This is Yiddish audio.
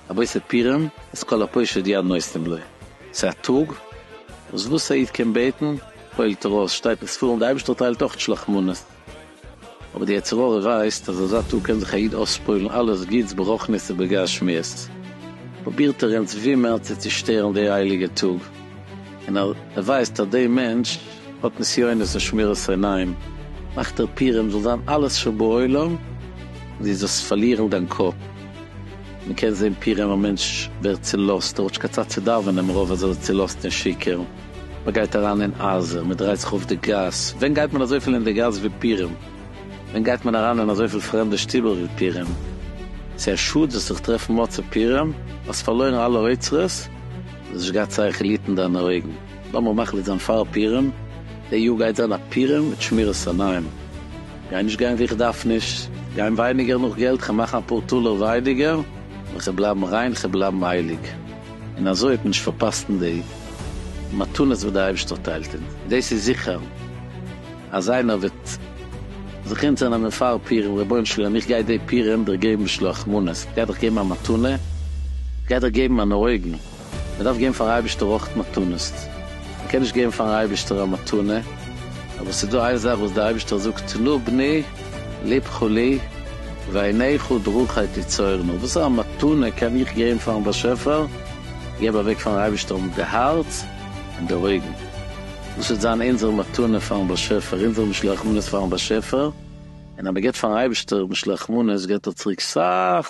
רבי ספירין, אז כל הפושט יד נושאים לו. ס'איז א טאג וואס וואס א איד קען בעטן פועל'ט ער אויס, שטייט אין ספרים די אייבערשטער טיילט אויך שלח מנות. אבער די יצר הרע ווייסט אז אזא טאג קען זיך א איד אויספוילן אלעס גוטס ברוחנית ובגשמיות, פרובירט ער אונז ווי מער צו צושטערן די הייליגע טאג, און אז ער ווייסט אז די מענטש האט נסיונות און שמירת עיניים, מאכט ער פירעם זאל זיין אלעס שבעולם און דו זאלסט פארלירן דיין קאפ, מען קען זען פירעם א מענטש ווערט צולאזט, ער האט נישט קיין צייט צו דאווענען מרוב אז ער איז צולאזט און שיכור. מען גייט אריין אין עזה, מען דרייט זיך אויף די גאס, ווען גייט מען אזויפיל אין די גאס ווי פורים, ווען גייט מען אריין אין אזויפיל פרעמדע שטיבעל ווי פורים, ס'איז א שאד זיך צו טרעפן מוצאי פורים, האסט פארלוירן אלע אוצרות, האסט נישט געהאט צייך ליעט אין דיינע אויגן, לאמיר מחליט זיין פאר פורים, די יאר גייט זיין א פורים מיט שמירת עיניים, כ'גיי נישט גיין ווי איך דארף נישט, גיין ווייניגער נאך געלט, כ'מאכן אפאר טאלער ווייניגער, און כ'בלייבן ריין, כ'בלייבן הייליג. און אזוי האט מען נישט פארפאסט אין די מתנות וואס די אייבערשטער טיילט אונז. דאס איז זיכער אז איינער וועט זיך אונטערנעמען פאר פורים, רבונו של עולם איך גיי די פורים דיר געבן שלח מנות, איך גיי דיך געבן א מתנה, איך גיי דיך געבן אן אויגן, מען דארף געבן פארן אייבערשטער אויך מתנות, מען קען נישט געבן פארן אייבערשטער א מתנה, אבער עס איז דא איין זאך וואס די אייבערשטער זאגט תנו בני, ליב כלי, ועיניך דרכי תצורנה, וואס פאר א מתנה קען איך געבן פארן באשעפער, געב אוועק פארן אייבערשטער האבן די הארץ און די אויגן, דאס וועט זיין אונזער מתנה פארן באשעפער, אונזער משלוח מנות פארן באשעפער, און אז מען געבט פארן אייבערשטער משלוח מנות געבט ער צוריק סאך,